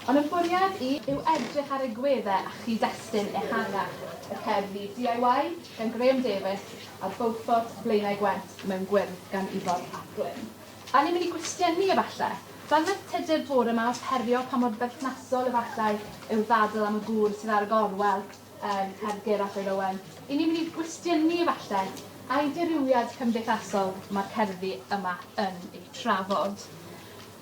Ond y bwriad i yw edrych ar egwyddau a chyd-destun ehangach y cerddi DIY gan Graham Davies a Beaufort Blaenau Gwent mewn gwyrdd gan Ifor ap Glyn. A ni'n mynd i gwestiynu efalle? Fel wnaeth Tudur bore 'ma wrth herio pa mor berthnasol efallai yw'r ddadl am y gŵr sydd ar y gorwel yn cerddi Ger Afraid Owen, 'yn ni'n mynd i gwestiynu efalle ai dirywiad cymdeithasol mae'r cerddi yma yn eu trafod?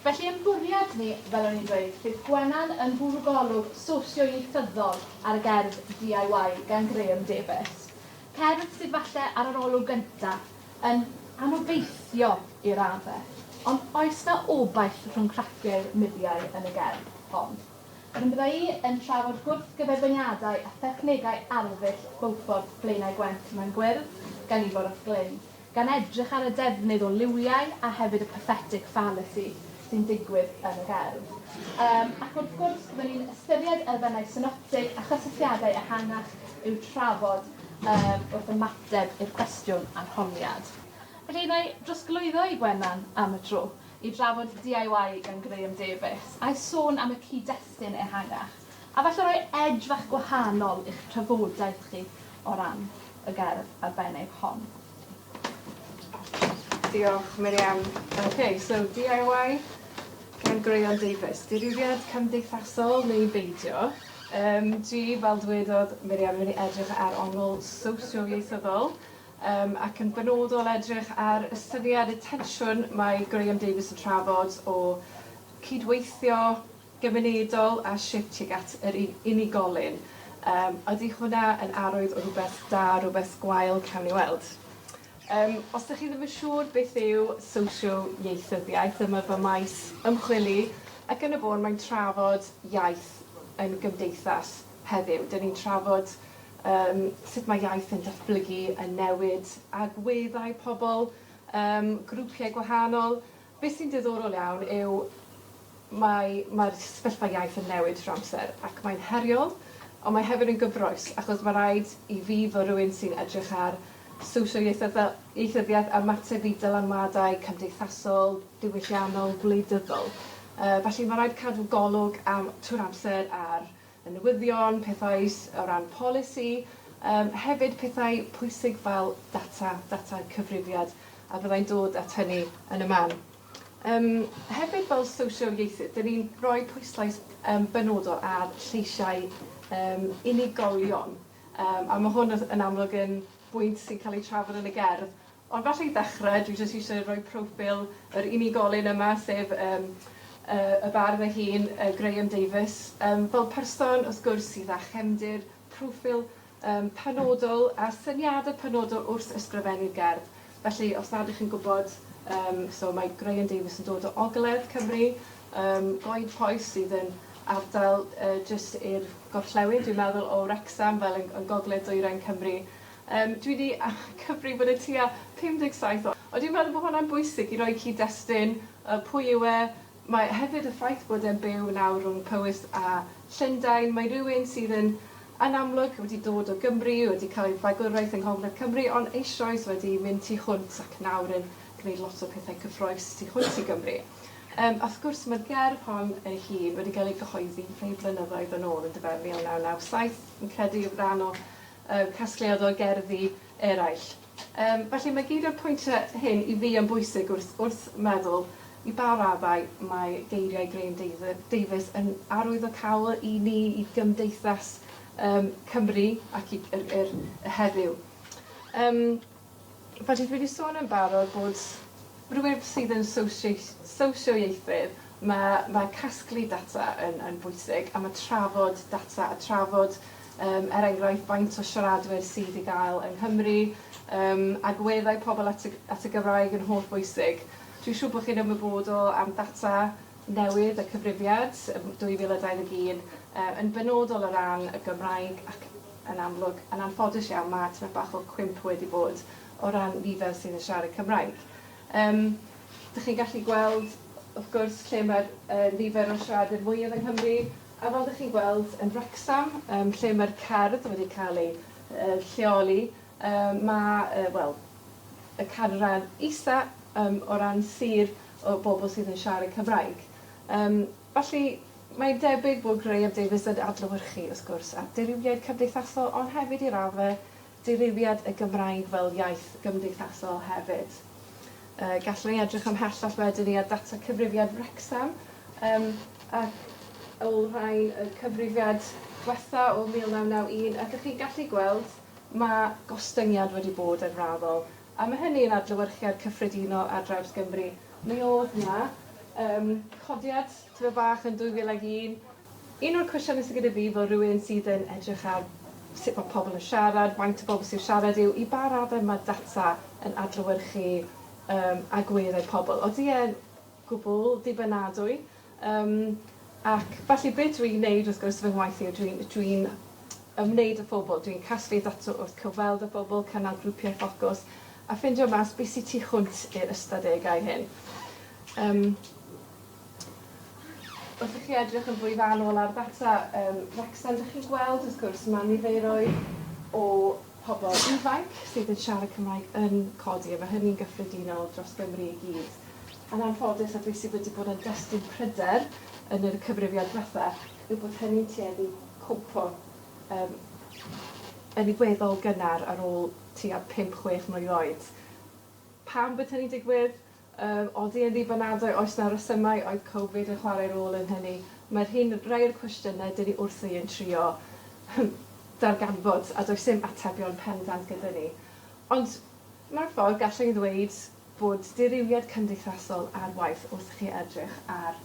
Felly ein bwriad ni, fel o'n i'n dweud, bydd Gwenan yn fwrw golwg sosioieithyddol ar y gerdd DIY gan Graham Davies. Cerdd sydd falle ar yr olwg gynta' yn anobeithio i radde', ond oes 'na obaith rhwng craciau'r mudiau yn y gerdd hon? Wedyn bydda' i yn trafod gwrthgyferbyniadau a thechnegau arddull Beaufort Blaenau Gwent mewn gwyrdd gan Ifor ap Glyn. gan edrych ar y defnydd o liwiau a hefyd y pathetic fallacy sy'n digwydd yn y gerdd. Yym, ac wrth gwrs, byddwn ni'n ystyried elfennau synoptig a chysylltiadau ehangach i'w trafod yym wrth ymateb i'r cwestiwn arholiad. Felly, na i drosglwyddo i Gwenan am y tro i drafod DIY gan Graham Davies, a'i sôn am y cyd-destun ehangach. a falle roi edge fach gwahanol i'ch trafodaeth chi o ran y gerdd arbennig hon. Diolch, Miriam. OK, so DIY gan Graeon Davies. Dirywiad cymdeithasol neu beidio? Um, dwi, fel dwedodd Miriam, yn mynd i edrych ar ongl sosio-ieithyddol um, ac yn benodol edrych ar y syniad, y tensiwn mae Graeon Davies yn trafod o cydweithio gymunedol a shwt tuag at yr u- unigolyn. Yym, ydy hwnna yn arwydd o rhywbeth da, rhywbeth gwael, cawn ni weld. Yym, os 'dych chi ddim yn siŵr beth yw sosio-ieithyddiaeth, dyma fy maes ymchwili, ac yn y bôn mae'n trafod iaith yn gymdeithas heddiw. 'Dyn ni'n trafod yym sut mae iaith yn datblygu, yn newid, agweddau pobl, yym grwpiau gwahanol, Beth sy'n diddorol iawn yw mae mae'r sefyllfa iaith yn newid trwy'r amser ac mae'n heriol ond mae hefyd yn gyffrous achos mae rhaid i fi fel rhywun sy'n edrych ar social ieithyddol, ieithyddiaeth ymateb i dylanwadau cymdeithasol, diwylliannol, gwleidyddol yy felly mae rhaid cadw golwg am trwy'r amser ar y newyddion, pethau o ran polisi, yym hefyd pethau pwysig fel data, data cyfrifiad, a byddai'n dod at hynny yn y man. Yym hefyd fel sosial-ieithydd, dyn ni'n rhoi pwyslais yym benodol ar lleisiau yym unigolion, yym a ma' hwn yn amlwg yn bwynt sy'n cael ei trafod yn y gerdd, Ond falle i ddechrau, dwi jyst eisiau rhoi proffil yr unigolyn yma, sef yym y y bardd ei hun, yy Graham Davies, yym fel person, wrth gwrs, sydd â chefndir, proffil yym penodol a syniadau penodol wrth ysgrifennu gerdd. Felly, os nad 'ych chi'n gwybod, yym so mae Graham Davies yn dod o ogledd Cymru, yym Goed Poys sydd yn ardal yy jyst i'r gorllewin, dwi'n meddwl, o Wrecsam, fel yn yn gogledd dwyrain Cymru. Yym, dwi 'di cyfrifod e tua 57 o. Ond dwi'n meddwl bod hwnna'n bwysig i roi cyd-destun, yy, pwy yw e. Mae hefyd y ffaith bod e'n byw nawr rhwng Powys a Llundain, mae rywun sydd yn, yn amlwg, wedi dod o Gymru, wedi cael ei fagwraeth yng Ngogledd Cymru, ond eisoes wedi mynd tu hwnt ac nawr yn gwneud lot o pethau cyffrous tu hwnt i Gymru. Yym, a wrth gwrs, mae'r gerdd hon ei hun wedi cael ei gyhoeddi rhai blynyddoedd yn ôl, yndyfe, 1997, fi'n credu, ran o y casgliad o gerddi eraill. Yym, felly mae gyd o'r pwyntiau hyn i fi yn bwysig wrth wrth meddwl i ba raddau mae geiriau Graham Dav- Davies yn arwyddocaol i ni, i gymdeithas yym Cymru ac i yr yr y heddiw. Yym. Fel dwi wedi sôn yn barod bod rhywun sydd yn sosioieithydd, mae casglu data yn bwysig a mae trafod data a trafod er enghraifft faint o siaradwyr sydd i gael yng Nghymru, agweddau pobl at y Gymraeg yn holl bwysig. Dwi'n siŵr bod chi'n ymwybodol am ddata newydd y Cyfrifiad 2021 yn benodol o ran y Gymraeg ac yn amlwg, yn anffodus iawn, mae tipyn bach o cwymp wedi bod o ran nifer sydd yn siarad Cymraeg. Yym, dych chi'n gallu gweld, wrth gwrs, lle mae'r yy nifer o siaradwyr mwyaf yng Nghymru, a fel dych chi'n gweld, yn Wrecsam, yym, lle mae'r cerdd wedi cael ei yy lleoli, yy mae, yy, wel, y canran isa, yym, o ran sir o bobl sydd yn siarad Cymraeg. Yym. Felly, mae'n debyg bod Graham Davies yn adlewyrchu, wrth gwrs, at ddirywiaid cymdeithasol ond hefyd i radde dirywiad y Gymraeg fel iaith gymdeithasol hefyd. Yy gallwn ni edrych ymhellach wedyn i ar data cyfrifiad Wrecsam yym ac olrhain y cyfrifiad dwetha o 1991 a dych chi'n gallu gweld ma' gostyngiad wedi bod yn raddol A mae hynny yn adlewyrchiad cyffredinol ar draws Gymru. Mi oedd 'na yym codiad tipyn bach yn 2001. Un o'r cwestiyne sy gyda fi fel rhywun sydd yn edrych ar sut mae pobl yn siarad, faint o bobl sy'n siarad yw i ba raddau mae data yn adlewyrchu yym agweddau pobl? Odi e'n gwbl ddibynadwy? Yym, ac felly be dwi'n neud wrth gwrs fy ngwaith i yw dwi'n dwi'n ymwneud â phobl, dwi'n casglu data wrth cyfweld â phobl, cynnal grwpiau ffocws a ffindio mas be sy tu hwnt i'r ystadegau hyn. Yym, wrth i chi edrych yn fwy fanwl ar ddata yym Wrecsam, 'dych chi'n gweld wrth gwrs ma' niferoedd o pobl ifanc sydd yn siarad Cymraeg yn codi a mae hynny'n gyffredinol dros Gymru i gyd. Yn anffodus, a dwi sydd wedi bod yn destun pryder yn yr cyfrifiad diwetha, yw bod hynny'n tueddu cwmpo um, yn weddol gynnar ar ôl tua 5-6 mlwydd oed. Pam bod hynny'n digwydd? Yr odi yn ddibynadwy? Oes na resymau? Oedd Covid yn chwarae rôl yn hynny? Mae'r hyn, rai o'r cwestiynau dyn ni wrthi yn trio darganfod a does dim atebion pendant gyda ni. Ond mewn ffordd gallwn i ddweud bod dirywiad cymdeithasol ar waith wrth chi edrych ar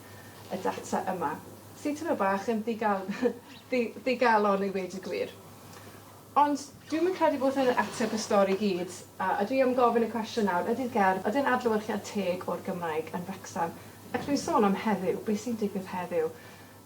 y data yma, sy'n teimlo bach yn ddigal- ddi- ddigalon i weud y gwir. Ond dwi'm yn credu bod hyn yn ateb y stori i gyd, a dwi am gofyn y cwestiwn nawr, ydi'r gerdd, ydi'r adlewyrchiad teg o'r Gymraeg yn Wrecsam? Ac dwi'n sôn am heddiw, be sy'n digwydd heddiw?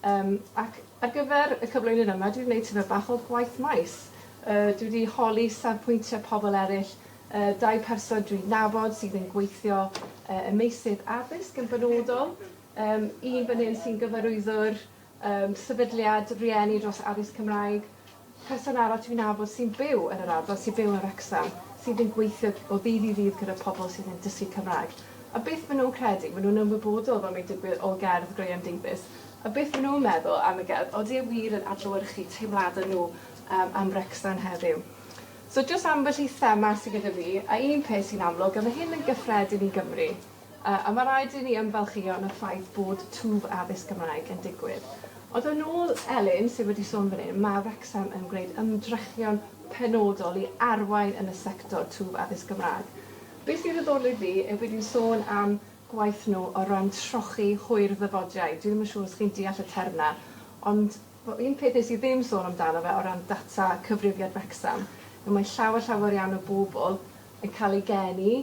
Yym, ac ar gyfer y cyflwyniad yma, dwi 'di wneud tipyn bach o gwaith maes. Yy, dwi 'di holi safpwyntiau pobl eraill, yy, dau person dwi'n nabod sydd yn gweithio yy ym meysydd addysg yn benodol, yym, un fan hyn sy'n gyfarwyddwr Yym, sefydliad rieni dros addysg Cymraeg, person arall dwi'n nabod sy'n byw yn yr ardal, sy'n byw yn Wrecsam, sydd yn gweithio o ddydd i ddydd gyda pobl sydd yn dysgu Cymraeg, a beth maen nhw'n credu, maen nhw'n ymwybodol fel mae'n digwydd o gerdd Graham Davies, a beth maen nhw'n meddwl am y gerdd, odi e wir yn adlewyrchu teimladau nhw yym am Wrecsam heddiw. So jyst ambell i thema sy gyda fi, a un peth sy'n amlwg, a mae hyn yn gyffredin i Gymru, A mae rhaid i ni ymfalchïo yn y ffaith bod twf addysg Gymraeg yn digwydd. Ond yn ôl Elin, sydd wedi sôn fan hyn, mae Wrecsam yn gwneud ymdrechion penodol i arwain yn y sector twf addysg Gymraeg. Be sy'n ddiddorol i fi yw bod hi'n sôn am gwaith nhw o ran trochi hwyr ddyfodiaid. Dwi ddim yn siŵr os chi'n deall y term 'na, ond, Wel, un peth nes i ddim sôn amdano fe o ran data cyfrifiad Wrecsam yw mae llawer, llawer iawn o bobl yn cael eu geni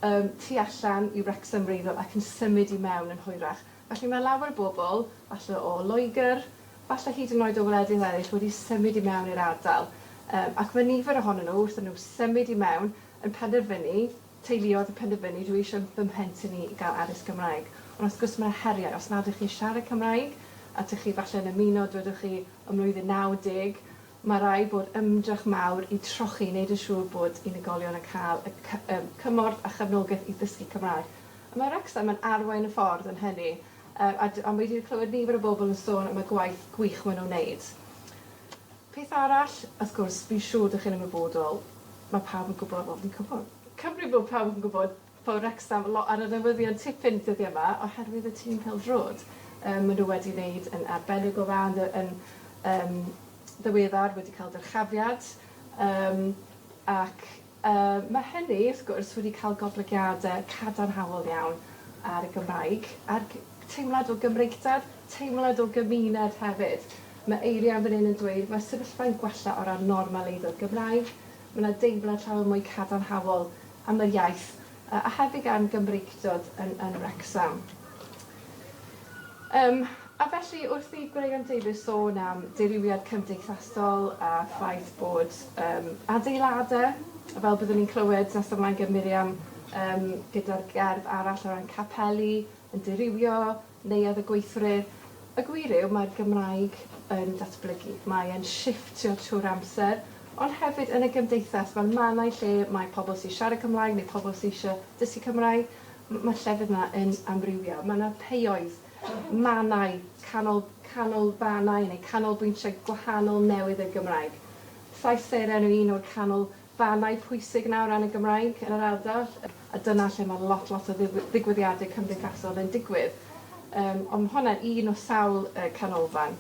ym tu allan i Wrecsam wreiddiol ac yn symud i mewn yn hwyrach. Felly mae lawer o bobl, falle o Loegr, falle hyd yn oed o wledydd eraill, wedi symud i mewn i'r ardal. Yym ac mae nifer ohonyn nhw, wrth iddyn nhw symud i mewn, yn penderfynu teuluoedd yn penderfynu dwi eisiau fy mhlentyn i i gael addysg Cymraeg ond wrth gwrs mae 'na heriau os nad ydych chi'n siarad Cymraeg a dych chi falle yn ymuno dwedwch chi ym mlwyddyn 90 mae rhaid bod ymdrech mawr i trochi i wneud yn siŵr bod unigolion yn cael y cy- yym cymorth a chefnogaeth i ddysgu Cymraeg a mae Wrecsam yn arwain y ffordd yn hynny yy a d- a mae wedi clywed nifer o bobl yn sôn am y gwaith gwych maen nhw'n wneud. Peth arall, wrth gwrs, fi'n siŵr dych chi'n ymwybodol, mae pawb yn gwybod, wel, fi'n gwybod, Cymru bod pawb yn gwybod bod Wrecsam lot ar y newyddion tipyn dyddiau yma oherwydd y tîm pêl-droed. Yym, maen nhw wedi wneud yn arbennig o dda yn ddy- yn yym ddiweddar, wedi cael dyrchafiad, yym, ac Mae hynny, wrth gwrs, wedi cael goblygiadau cadarnhaol iawn ar y Gymraeg, a'r teimlad o Gymreictad, teimlad o gymuned hefyd. Mae Eirian fan hyn yn dweud, mae'r sefyllfa'n gwella o ran normaleiddo'r Gymraeg, mae 'na deimlad llawer mwy cadarnhaol am yr iaith. a hefyd a'n Gymreictod yn yn Wrecsam. Yym, a felly wrth i Graham Davies sôn am dirywiad cymdeithasol a ffaith bod yym adeiladau, fel byddwn ni'n clywed nes ymlaen gan Miriam, yym gyda'r gerdd arall o ran capeli yn dirywio, Neuadd y gweithlu. Y gwir yw, mae'r Gymraeg yn datblygu. Mae e'n shifftio trwy'r amser, ond hefyd yn y gymdeithas. Mae mannau lle mae pobl sy'n siarad Cymraeg neu pobl sy eisiau dysgu Cymraeg. Mae'r llefydd yna yn amrywio. Mae yna peuoedd, mannau, canol, canolfannau neu canolbwyntiau gwahanol newydd i'r Gymraeg. Llais Seren yw un o'r canol fannau pwysig yna o ran y Gymraeg yn yr ardal, a dyna lle mae lot, lot o ddigwyddiadau cymdeithasol yn digwydd. Yym, ond mae hwnna'n un o sawl yy canolfan.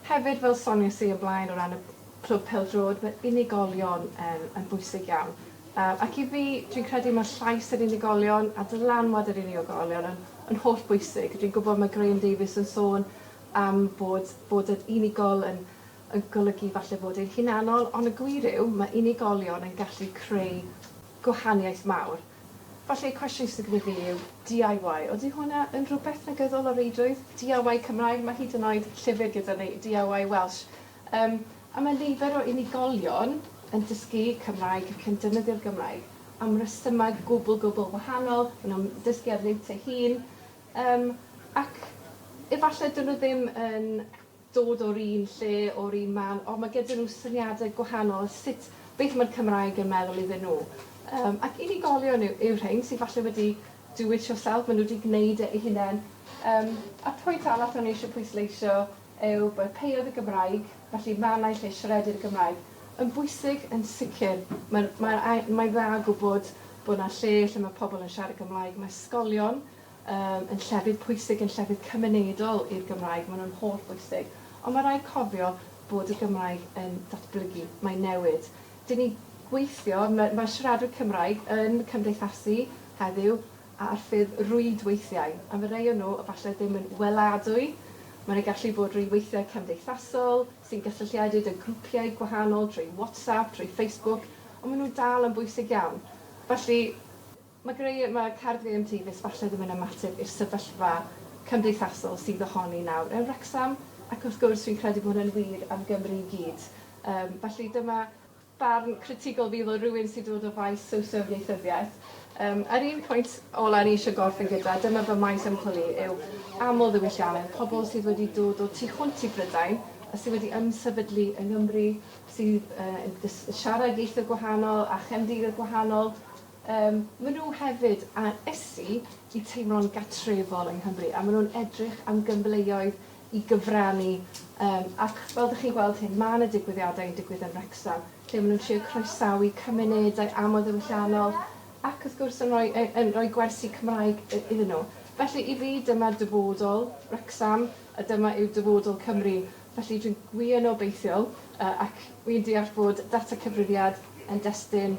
Hefyd, fel soniais i o'r blaen o ran y Clwb Pêl-droed, mae unigolion yn yn bwysig iawn. Yy, ac i fi, dwi'n credu mae llais yr unigolion a dylanwad yr unigolion yn yn holl bwysig. Dwi'n gwybod mae Graham Davies yn sôn am bod bod yr unigol yn yn golygu falle fod e'n hunanol, ond y gwir yw, mae unigolion yn gallu creu gwahaniaeth mawr. Falle y cwestiwn sydd gyda fi yw DIY, odi hwnna yn rhywbeth negyddol o reidrwydd? DIY Cymraeg, mae hyd yn oed llyfr gyda ni, DIY Welsh. Yym, a mae nifer o unigolion yn dysgu Cymraeg ac yn defnyddio'r Gymraeg am resymau gwbl, gwbl wahanol, maen nhw'n dysgu ar liwt eu hun, yym, ac efallai dydyn nhw ddim yn dod o'r un lle, o'r un man, ond mae gyda nhw syniadau gwahanol o sut, beth mae'r Cymraeg yn meddwl iddyn nhw. Yym, ac unigolion yw, yw'r rhein sydd falle wedi do it yourself, maen nhw wedi gwneud e eu hunain. Yym, a'r pwynt arall o'n i eisiau pwysleisio yw bod peuodd y Gymraeg, felly mannau lle siaredir y Gymraeg, yn bwysig yn sicr. Mae'n, mae'n, mae'n dda gwybod bod 'na lle lle mae pobl yn siarad Cymraeg, mae ysgolion, Yym, yn llefydd pwysig, yn llefydd cymunedol i'r Gymraeg, ma' nhw'n holl bwysig. Ond ma' raid cofio bod y Gymraeg yn datblygu, mae'n newid. 'Dyn ni gweithio, ma' ma' siaradwyr Cymraeg yn cymdeithasu heddiw a- ar ffurf rwydweithiau, a ma' rei o nhw efallai ddim yn weladwy, ma' 'na gallu bod rwydweithiau cymdeithasol sy'n gysylltiedig 'da grwpiau gwahanol trwy WhatsApp, trwy Facebook, ond ma' nhw'n dal yn bwysig iawn. Felly, Mae greu ma card VM Tee fis falle ddim yn ymateb i'r sefyllfa cymdeithasol sydd ohoni nawr yn Wrecsam ac wrth gwrs fi'n credu bod hwnna'n wir am Gymru i gyd. Yym felly dyma barn critigol fi fel rhywun sy'n dod o faes sowsio ieithyddiaeth. Yym yr un pwynt ola o'n i eisiau gorffen gyda, dyma fy maes ymchwil i, yw aml ddiwylliannedd, pobl sydd wedi dod o tu hwnt i Brydain a sydd wedi ymsefydlu yng Nghymru, sydd yy yn dys- siarad ieithoedd gwahanol a chefndiroedd gwahanol, Yym, ma' nhw hefyd ar ysu i teimlo'n gatrefol yng Nghymru, a ma' nhw'n edrych am gyfleoedd i gyfrannu, yym, ac fel dych chi'n gweld hyn, ma' 'na digwyddiadau yn digwydd yn Wrecsam, lle ma' nhw'n trio croesawu cymunedau amldiwylliannol, ac wrth gwrs yn rhoi yy yn rhoi gwersi Cymraeg i- iddyn nhw. Felly, i fi, dyma dyfodol Wrecsam, a dyma yw dyfodol Cymru. Felly, dwi'n wir yn obeithiol, yy, ac wi'n deall bod data cyfrifiad yn destun,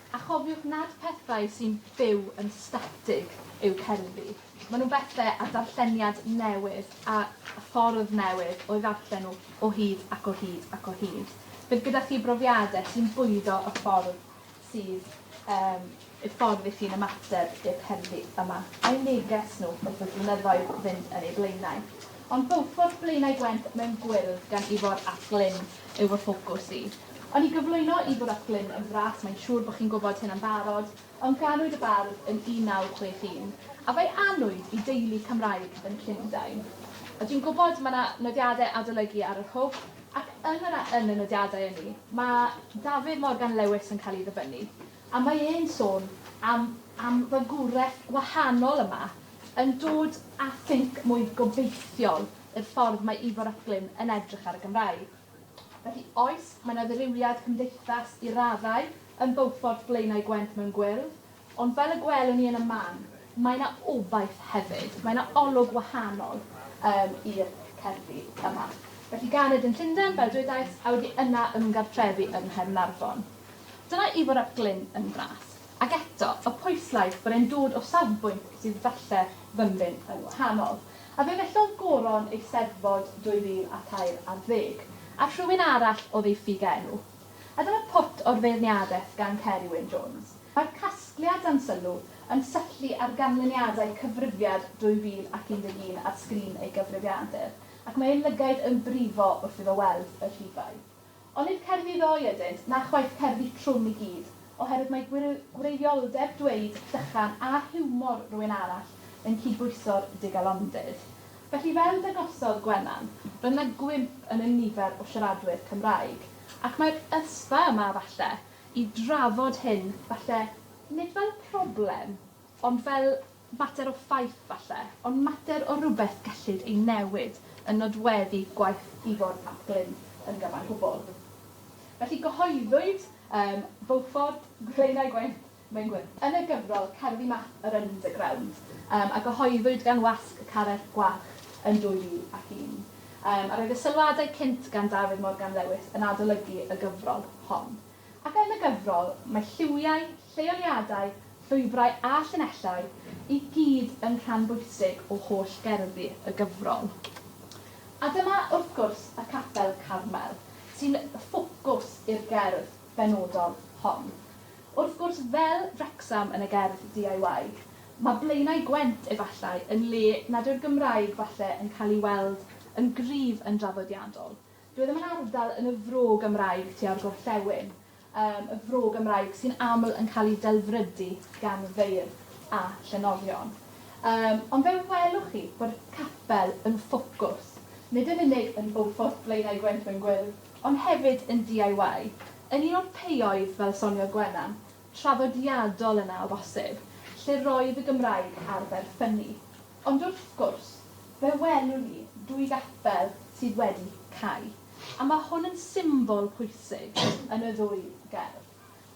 A chofiwch nad pethau sy'n byw yn statig yw cerddi. Maen nhw'n bethau â darlleniad newydd a ffordd newydd o'i ddarllen nhw o hyd ac o hyd ac o hyd. Bydd gyda chi brofiadau sy'n bwydo y ffordd sydd um, y ffordd i chi'n ymateb i'r cerddi yma, a'u neges nhw wrth y blynyddoedd fynd yn eu blaenau. Ond bywfodd Blaenau Gwent mewn gwyrdd gan Ifor ap Glyn. yw fy ffocws i. O'n i gyflwyno i Fwroclyn yn fras, mae'n siŵr bod chi'n gwybod hyn yn barod, ond ganwyd y bardd yn 1961, a fe'i anwyd i deulu Cymraeg yn Llundain. A dwi'n gwybod mae 'na nodiadau adolygu ar yr hwb, ac yn yr yn y nodiadau ynni, mae Dafydd Morgan Lewis yn cael ei ddyfynnu, a mae e'n sôn am am fagwraeth wahanol yma yn dod â thinc mwy gobeithiol i'r ffordd mae Ifor Ycklyn yn edrych ar y Gymraeg. Felly, oes, mae 'na ddirywiad cymdeithas i raddau yn Beaufort Blaenau Gwent mewn gwyrdd, ond fel y gwelwn ni yn y man, mae 'na obaith hefyd, mae 'na olwg wahanol um, i'r cerddi yma. Felly ganed yn Llundain, fel dwedais, a wedi yna ymgartrefu yng Nghaernarfon. Dyna Ifor ap Glyn yn fras. Ac eto, y pwyslais bod e'n dod o safbwynt sydd falle fymryn yn wahanol. A fe fellodd Goron Eisteddfod 2014, a rhywun arall oedd ei ffug enw. A dyma pwt o'r feirniadaeth gan Ceri Wyn Jones. Mae'r casgliad dan sylw yn syllu ar ganlyniadau Cyfrifiad 2011 ar sgrin ei gyfrifiadur, ac mae ei lygaid yn brifo wrth iddo weld y rhifau. Ond nid cerddi ddoe ydynt, na chwaith cerddi trwm i gyd, oherwydd mae gwreiddioldeb dweud llychan a hiwmor rywun arall yn cydbwyso'r digalondid. Felly, fel dangosodd Gwenan, roedd yna gwymp yn y nifer o siaradwyr Cymraeg. Ac mae'r ysfa yma, falle, i drafod hyn, falle, nid fel problem, ond fel Mater o ffaith, falle, ond mater o rywbeth gellid ei newid yn nodweddu gwaith Ifor ap Glyn yn gyfan gwbl. Felly gyhoeddwyd ym Beaufort, Blaenau Gwent, Maengwyn, yn y gyfrol Cerddi Math yr Underground, yym, a gyhoeddwyd gan Wasg y Carreg Gwarch yn 2001. Yym, a roedd y sylwadau cynt gan Dafydd Morgan Lewis yn adolygu y gyfrol hon. Ac yn y gyfrol, mae lliwiau, Lleoliadau, llwybrau a llinellau i gyd yn rhan bwysig o holl gerddi y gyfrol. A dyma, wrth gwrs, y Capel Carmel, sy'n ffocws i'r gerdd benodol hon. Wrth gwrs, fel Wrecsam yn y gerdd DIY, mae Blaenau Gwent, efallai, yn le nad yw'r Gymraeg falle yn cael ei weld yn gryf yn draddodiadol. Doedd ddim yn ardal yn y Fro Gymraeg tua'r gorllewin. am y fro Gymraeg sy'n aml yn cael ei delfrydu gan feirdd a llenorion. Yym, ond fe welwch chi bod capel yn ffocws, nid yn unig yn Beaufort, Blaenau Gwent mewn gwyrdd, ond hefyd yn DIY, yn un o'r peuoedd, fel soniodd Gwenan, traddodiadol yna o bosib, lle roedd y Gymraeg ar ferfynnu. Ond wrth gwrs, fe welwn ni dwy gapel sydd wedi cau. A mae hwn yn symbol pwysig yn y ddwy gerdd.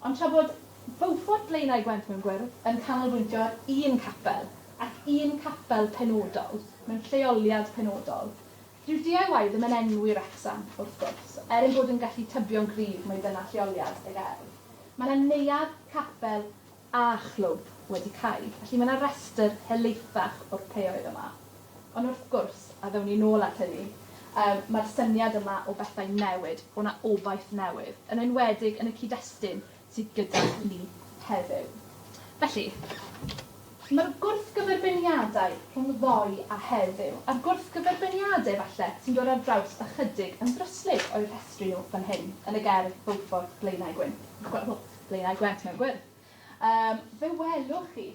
Ond tra bod Beaufort Blaenau Gwent mewn gwyrdd yn canolbwyntio ar un capel, ac un capel penodol, mewn lleoliad penodol, dyw DIY ddim yn enwi Wrecsam, wrth gwrs, er ein bod yn gallu tybio'n gryf mai dyna lleoliad y gerdd. Mae 'na neuadd, capel, a chlwb wedi cau, felly mae 'na restr helaethach o'r pêoedd yma. Ond wrth gwrs, a ddown ni nôl at hynny, yym mae'r syniad yma o bethau newid, o 'na obaith newydd, yn enwedig yn y cyd-destun sydd gyda ni heddiw. Felly, mae'r gwrthgyferbyniadau rhwng ddoe a heddiw, a'r gwrthgyferbyniadau, falle, sy'n dod ar draws ychydig yn ddryslyd o'u rhestru nhw fan hyn yn y gerdd Beaufort, Blaenau Gwyn. Blaenau Gwent mewn gwyrdd. Yym, fe welwch chi,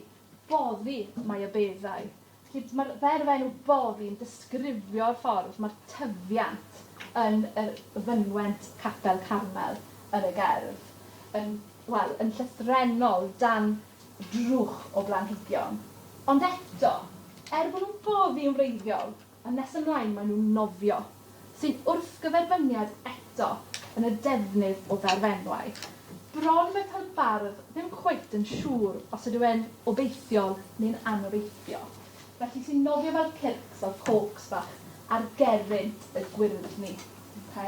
boddi mae y beddau. Felly, mae'r ferf enw boddi yn disgrifio'r ffordd mae'r tyfiant yn yr fynwent Capel Carmel yn y gerdd, yn, wel, yn llythrennol dan drwch o blanhigion. Ond eto, er bod nhw'n boddi yn wreiddiol, A nes ymlaen maen nhw'n nofio, sy'n wrthgyferbyniad eto yn y defnydd o ddarfenwau. Bron mae cael bardd ddim cweit yn siŵr os ydyw e'n obeithiol neu'n anobeithiol. Felly sy'n nofio fel circs fel corks bach ar gerrynt y gwyrddni. Ok?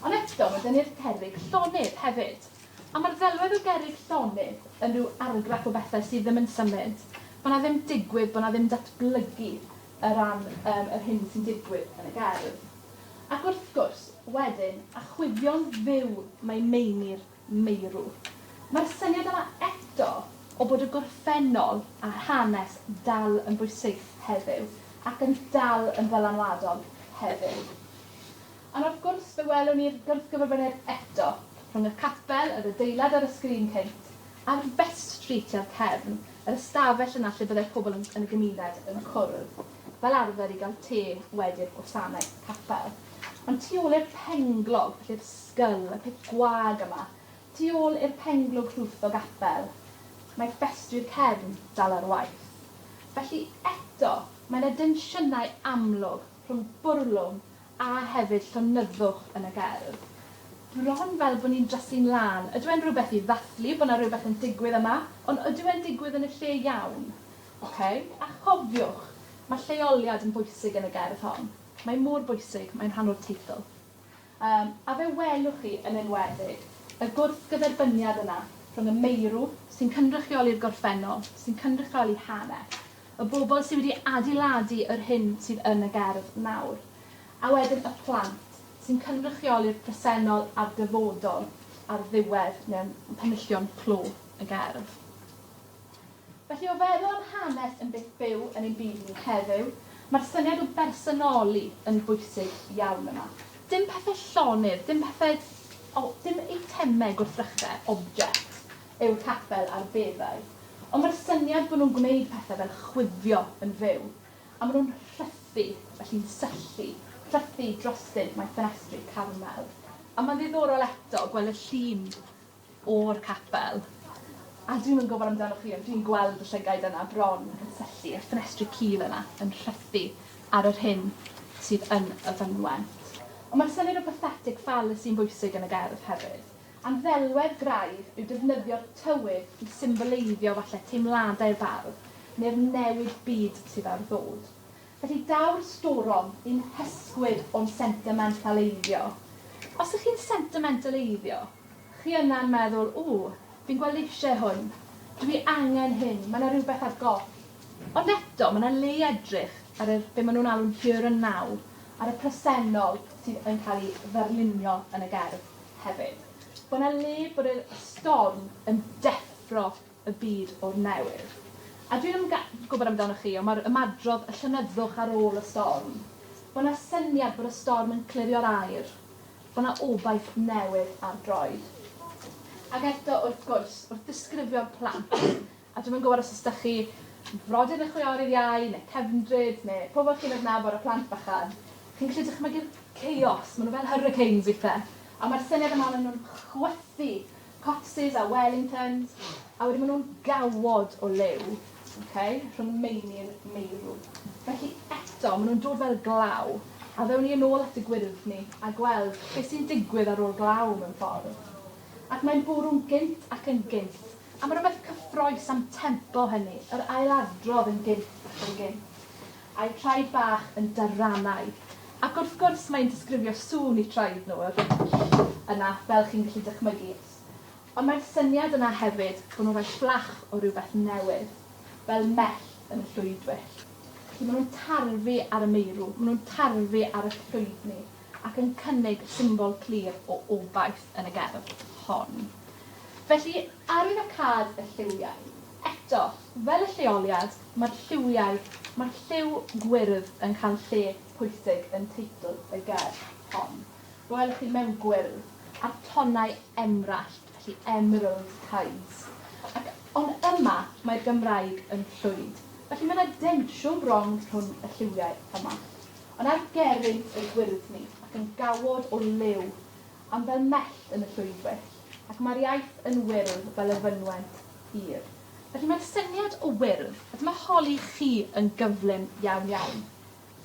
Ond eto mae 'da ni'r cerrig llonydd hefyd. A mae'r ddelwedd o gerrig llonydd yn rhyw argraff o bethau sydd ddim yn symud, bod 'na ddim digwydd, bod 'na ddim datblygu, o ran um, yr hyn sy'n digwydd yn y gerdd. Ac wrth gwrs, wedyn, a chwifio'n fyw mae meini'r meirw. Mae'r syniad yma eto o bod y gorffennol a'r hanes dal yn bwysig heddiw ac yn dal yn ddylanwadol heddiw. Ond wrth gwrs, fe welwn ni'r gwrthgyferbyniad eto rhwng y capel, yr adeilad ar y sgrin cynt, Ar West Street i'r cefn, yr ystafell yna lle byddai pobl yn yn y gymuned yn cwrdd, fel arfer i gael te wedi'r gwasanaeth capel. Ond tu ôl i'r penglog, felly yr sgyll, y peth gwag yma, tu ôl i'r penglog rhwth o gapel, mae ffestri'r cefn dal ar waith. Felly, eto, mae 'na densiynau amlwg rhwng bwrlwm a hefyd llonyddwch yn y gerdd. Bron fel bod ni'n drasu'n lân. Ydyw e'n rhywbeth i ddathlu bod 'na rhywbeth yn digwydd yma, ond ydyw e'n digwydd yn y lle iawn? Ok? A chofiwch, mae lleoliad yn bwysig yn y gerdd hon. Mae mor bwysig, mae'n rhan o'r teitl. Yym, a fe welwch chi, yn enwedig, y gwrthgyferbyniad yna rhwng y meirw, sy'n cynrychioli'r gorffennol, sy'n cynrychioli hanes, Y bobl sydd wedi adeiladu yr hyn sydd yn y gerdd nawr. A wedyn y plant, sy'n cynrychioli'r presennol a'r dyfodol ar ddiwedd mewn penillion clo y gerdd. Felly, o feddwl am hanes yn beth byw yn ein byd ni heddiw, mae'r syniad o bersonoli yn bwysig iawn yma. Dim pethau llonydd, dim pethau... o, dim eitemau gwrthrychau, objects, eu capel ar beddau, ond mae'r syniad bod nhw'n gwneud pethau fel chwifio yn fyw, a maen nhw'n rhythu, felly'n syllu, rhythu drostynt mae ffenestri Carmel. A mae'n ddiddorol eto gweld y llun o'r capel, a dwi'm yn gwybod amdanoch chi ond dwi'n gweld y llygaid yna bron yn syllu, a'r ffenestri cul yna yn rhythu ar yr hyn sydd yn y fynwent. Ond mae'r syniad o pathetic fallacy yn bwysig yn y gerdd hefyd. A'n ddelwedd graidd yw defnyddio'r tywydd i symboleiddio falle teimladau'r bardd neu'r newid byd sydd ar ddod. Felly daw'r storom un hysgwyd o'n sentimentaleiddio. Os ych chi'n sentimentaleiddio, chi yna'n meddwl, 'W, fi'n gweld eisiau hwn, dw i angen hyn, mae 'na rywbeth ar goll. Ond eto, mae 'na le i edrych ar yr, be maen nhw'n alw'n here and now, ar y presennol sydd yn cael ei ddarlunio yn y gerdd. hefyd, bod 'na le bod y storm yn deffro y byd o'r newydd. A dwi'm yn ga- gwybod amdanoch chi, ond mae'r ymadrodd 'y llonyddwch ar ôl y storm', bod 'na syniad bod y storm yn clirio'r aer, bod 'na obaith newydd ar droed. Ac eto, wrth gwrs, wrth ddisgrifio'r plant, A dwi'm yn gwybod os ydych chi frodyr neu chwiorydd iau, neu cefndryd, neu pobl chi'n adnabod â phlant bychan, chi'n gallu dychmygu'r chaos, maen nhw fel hurricanes weithiau, ond mae'r syniad yma maen nhw'n chwythu copsis a wellingtons, a wedyn maen nhw'n gawod o liw, ok, rhwng meini a meirw. Felly eto, maen nhw'n dod fel glaw, a ddewn ni yn ôl at y gwyrdd ni a gweld beth sy'n digwydd ar ôl glaw mewn ffordd. Ac mae'n bwrw'n gynt ac yn gynt, Am rywbeth cyffrous am tempo hynny, yr ailadrodd yn gynt ac yn gynt, a'u traed bach yn darannau. Ac wrth gwrs, mae'n disgrifio sŵn eu traed nhw, yr yna, fel chi'n gallu dychmygu. Ond mae'r syniad yna hefyd bod nhw'n rhoi fflach o rywbeth newydd, fel mellt yn y llwydwyll. Felly, maen nhw'n tarfu ar y meirw, maen nhw'n tarfu ar y llwydni. ac yn cynnig symbol clir o obaith yn y gerdd hon. Felly, arwyddocâd y lliwiau. Eto, fel y lleoliad, mae'r lliwiau, mae'r lliw gwyrdd yn cael lle pwysig yn teitl y gerdd hon. Welwch chi, mewn gwyrdd, a'r tonau emrallt, felly emerald tides. Ac, ond yma, mae'r Gymraeg yn llwyd. Felly, mae yna densiwn bron rhwng y lliwiau yma. Ond ar gerrig ei gwyrdd ni, ac yn gawod o liw, am fel mell yn y llwybwyll, ac mae'r iaith yn wyrdd fel y fynwent hir. Felly mae'r syniad o wyrdd, a dyma holi chi yn gyflym iawn iawn,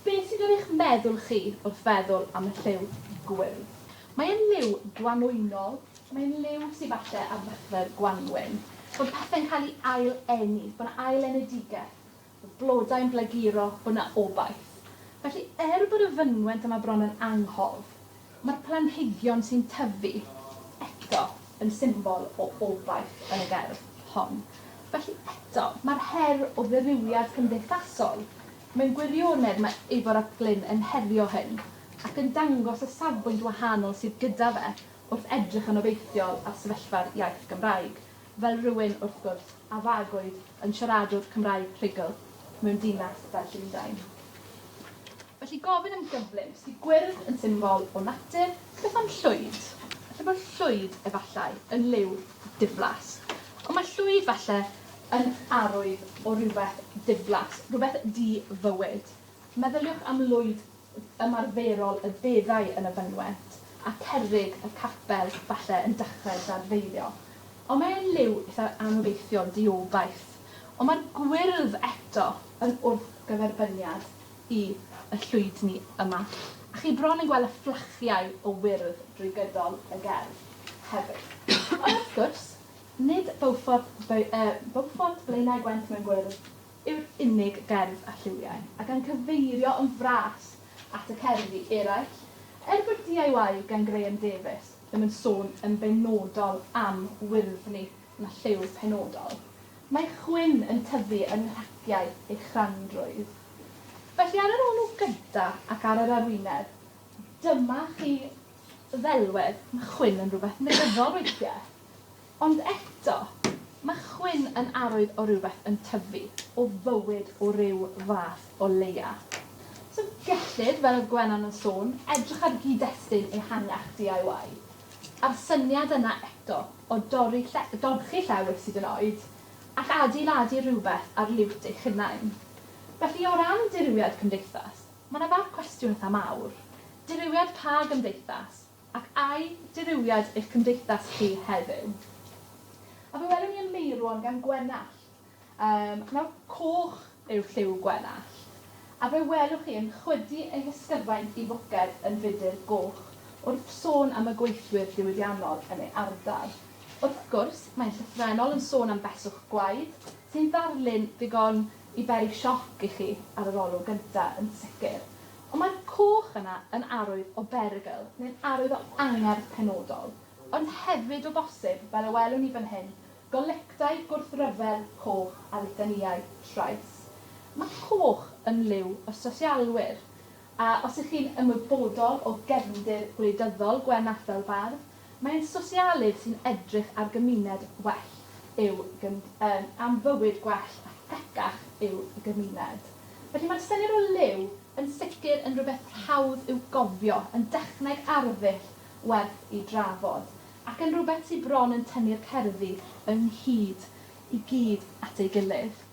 beth sydd ar eich meddwl chi wrth feddwl am y lliw gwyrdd? Mae e'n liw gwanwynol, mae e'n liw sydd falle ar ddechrau'r gwanwyn, bod pethe'n cael ei ail-eni, bod 'na ail-enedigaeth. blodau'n blaguro bod 'na obaith. Felly, er bod y fynwent yma bron yn anghof, mae'r planhigion sy'n tyfu eto yn symbol o obaith yn y gerdd hon. Felly, eto, mae'r her o ddirywiad cymdeithasol mewn gwirionedd mae Ifor ap Glyn yn herio hyn ac yn dangos y safbwynt wahanol sydd gyda fe wrth edrych yn obeithiol ar sefyllfa'r iaith Gymraeg, fel rhywun, wrth gwrs, a fagwyd yn siaradwr Cymraeg rhugl mewn dinas fel Llundain. Felly gofyn yn gyflym, os 'di gwyrdd yn symbol o natur, beth am llwyd? Falle bod llwyd, efallai, yn liw diflas. Ond mae llwyd, falle, yn arwydd o rywbeth diflas, rhywbeth di-fywyd. Meddyliwch am lwyd ymarferol y beddau yn y fynwent, a cerrig y capel, falle, yn dechrau dadfeilio. Ond mae e'n liw eitha anobeithiol, diobaith. Ond mae'r gwyrdd eto yn wrthgyferbyniad i y llwydni yma. A chi bron yn gweld y fflachiau o wyrdd drwy gydol y gerdd, hefyd. Ond, wrth gwrs, nid Beaufort, Beaufort, Blaenau Gwent mewn gwyrdd, yw'r unig gerdd a lliwiau, a gan gyfeirio yn fras at y cerddi eraill, er bod DIY gan Graham Davies ddim yn sôn yn benodol am wyrddni na lliw penodol, mae chwyn yn tyfu yng nghraciau ei chrandrwydd. Felly ar yr olwg gyntaf ac ar yr arwyneb, dyma chi ddelwedd, mae chwyn yn rhywbeth negyddol weithiau. Ond eto, mae chwyn yn arwydd o rywbeth yn tyfu, o fywyd o ryw fath o leia. So gellid, fel oedd Gwenan yn sôn, edrych ar gyd-destun ehangach DIY, a'r syniad yna eto o dorri lle-, dorchi llewys hyd yn oed, ac adeiladu rhywbeth ar liwt eich hunain. Felly, o ran dirywiad cymdeithas, mae 'na fab cwestiwn eitha' mawr. Dirywiad pa gymdeithas? Ac ai dirywiad eich cymdeithas chi heddiw? A fe welwn ni yn meirwon gan Gwenallt. Yym, nawr, coch yw lliw Gwenallt. A fe welwch chi yn chwydu ei hysgyfaint i foced yn fudr goch wrth sôn am y gweithwyr diwydiannol yn ei ardal. Wrth gwrs, mae'n llythrennol yn sôn am beswch gwaed, sy'n ddarlun ddigon i beri sioc i chi ar yr olwg gynta, yn sicr, ond mae'r coch yna yn arwydd o berygl neu'n arwydd o angerdd penodol, ond hefyd o bosib, fel y welwn ni fan hyn, golectau gwrthryfel coch a litanïau trais. Mae coch yn liw o sosialwyr, a os 'y chi'n ymwybodol o gefndir gwleidyddol Gwenallt fel bardd, Mae'n sosialydd sy'n edrych ar gymuned well i'w gymdeithas, am fywyd gwell a thegach i'w gymuned. Felly mae'r syniad o liw yn sicr yn rhywbeth rhawdd i'w gofio, yn dechneg arddull werth i drafod, ac yn rhywbeth sy bron yn tynnu'r cerddi ynghyd i gyd at ei gilydd.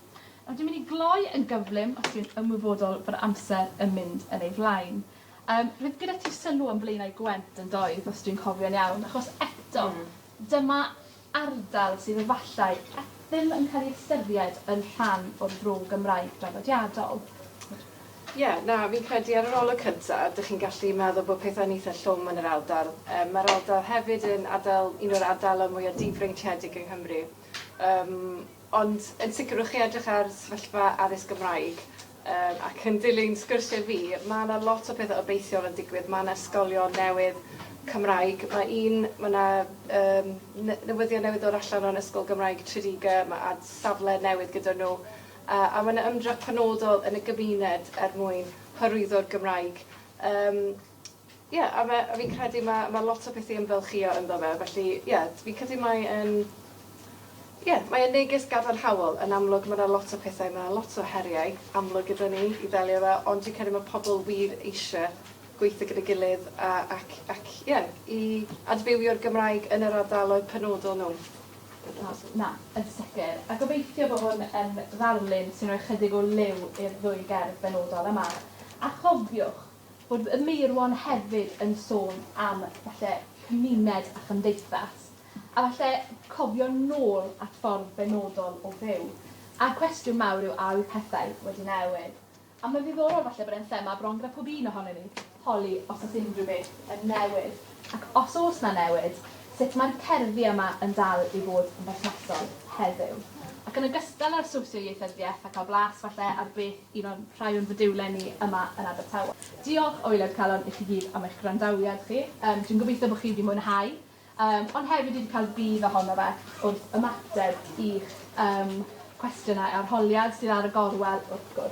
Nawr dwi'n mynd i gloi yn gyflym os dwi'n ymwybodol fod amser yn mynd yn ei flaen. Yym roedd gyda ti sylw am Blaenau Gwent yn doedd os dwi'n cofio'n iawn achos eto dyma ardal sydd efallai e- ddim yn cael ei ystyried yn rhan o'r fro Gymraeg draddodiadol. Ie, na, fi'n credu ar yr olwg cynta dych chi'n gallu meddwl bod pethau'n eitha llwm yn yr ardal. Yym mae'r ardal hefyd yn ardal un o'r ardaloedd mwya difreintiedig yng Nghymru. Yym ond yn sicr wrth chi edrych ar sefyllfa addysg Gymraeg Yym, ac yn dilyn sgyrsiau fi, ma' 'na lot o pethe obeithiol yn digwydd, ma' 'na ysgolion newydd Cymraeg, ma' un, ma' 'na yym ne- newyddion newydd dod allan o'n Ysgol Gymraeg Tredegar, ma' ad- safle newydd gyda nhw, a a ma' 'na ymdrech penodol yn y gymuned er mwyn hyrwyddo'r Gymraeg. Yym. Ie, a fe- a fi'n credu ma' ma' lot o pethe i ymfalchïo ynddo fe felly ie t- fi'n credu mae e'n ie mae e'n neges gadarnhaol. Yn amlwg ma' 'na lot o pethau ma' 'na lot o heriau amlwg gyda ni i ddelio â fe ond dwi'n credu ma' pobol wir eisie gweitho gyda'i gilydd a ac ac ie i adfywio'r Gymraeg yn yr ardaloedd penodol nhw. O na, yn sicr. A gobeithio bo' hwn yn ddarlun sy'n rhoi chydig o liw i'r ddwy gerdd benodol yma. A chofiwch, Roedd y Meirwon hefyd yn sôn am falle cymuned a chymdeithas, a falle cofio nôl at ffordd benodol o fyw. A'r cwestiwn mawr yw a yw pethau wedi newid? A mae'n ddiddorol falle bod e'n thema bron gyda pob un ohonon ni, holi os oes unrhyw beth yn newid. Ac os oes 'na newid, sut mae'r cerddi yma yn dal i fod yn berthnasol heddiw? Ac yn ogystal â'r sosioieithyddiaeth a cael blas falle ar beth un o'n rhai o'n fodiwlau ni yma yn Abertawe. Diolch o waelod calon i chi gyd am eich gwrandawiad chi. Yym dwi'n gobeithio bod chi wedi mwynhau yym ond hefyd wedi cael budd ohono fe wrth ymateb i'ch yym cwestiynau arholiad sydd ar y gorwel wrth gwrs.